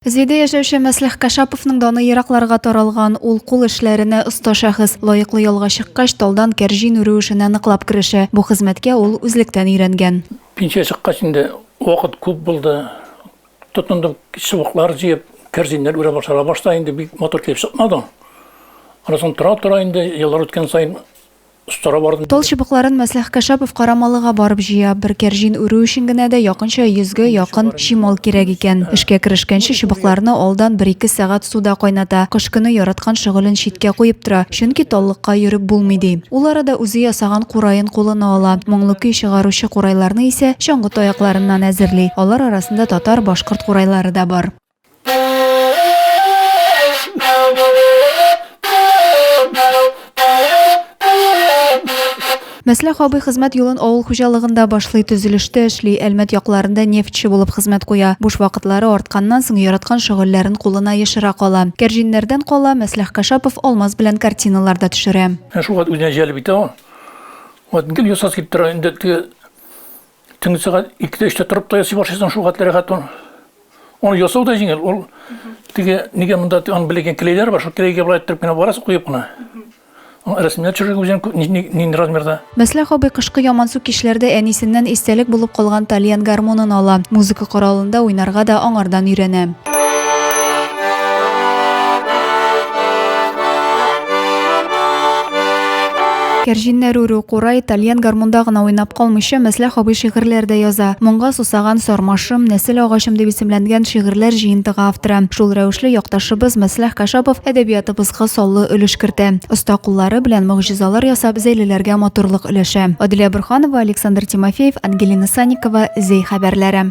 Зөйдә яшәүче Мәслих Кашаповның даны еракларга таралган. Ул кул эшләренә оста шәхес. Лаеклы ялга чыккач, талдан кәрҗин үрү эшенә ныклап керешә. Бу хезмәткә ул үзлектән өйрәнгән. Пенсия чыккач инде вакыт күп булды. Тотындым чыбыклар җыеп, кәрҗиннәр үрә башларга. Башта инде бик матур килеп чыкмады. Аннан соң тора-тора инде еллар үткән саен Тал чыбыкларын Мәслих Кәшапов Карамалыга барып җыя. Бер кәрҗин үрү өчен генә дә якынча йөзгә якын чимал кирәк икән. Эшкә керешкәнче чыбыкларны алдан бер-ике сәгать суда кайната. Кыш көне яраткан шөгылен читкә куеп тора, чөнки таллыкка йөреп булмый, ди. Ул арада үзе ясаган кураен кулына ала. Моңлы көй чыгаручы курайларны исә чаңгы таякларыннан әзерли. Алар арасында татар, башкорт курайлары да бар. Мәсләх абый хезмәт юлын авыл хуҗалыгында башлый, төзелештә эшли, Әлмәт якларында нефтьче булып хезмәт куя. Буш вакытлары артканнан соң яраткан шөгыльләрен кулына ешыра кала. Кәрҗиннәрдән кала, Мәсләх Кашапов алмаз белән картиналар да төшерә. Ә шул вакыт үзенә җәлеп итә ул. Вот гел ясасы килеп тора инде теге Төнге сәгать икедә өчтә торып та ясый башлыйсың шул хәтле рәхәт ул. Ул ясау да җиңел, ул теге нигә монда аны белгән клейлар бар, шул клейгә былай торып кына барасың, куеп кына. Рәсемнәр төшерергә үзенең нинди размерда. Мәсләх абый кышкы ямансу кичләрдә әнисеннән истәлек булып калган тальян гармунын ала, музыка коралында уйнарга да аңардан өйрәнә. Кәрҗиннәр үрү, курай, тальян гармунда гына уйнап калмыйча, Мәсләх абый шигырьләр дә яза. Моңга сусаган сармашым, нәсел агачым дип исемләнгән шигырьләр җыентыгы авторы. Шул рәвешле якташыбыз Мәсләх Кашапов әдәбиятыбызга саллы өлеш кертә. Оста куллары белән могҗизалар ясап, зәйлеләргә матурлык өләшә. Аделя Борһанова, Александр Тимофеев, Ангелина Санникова, Зәй хәбәрләре.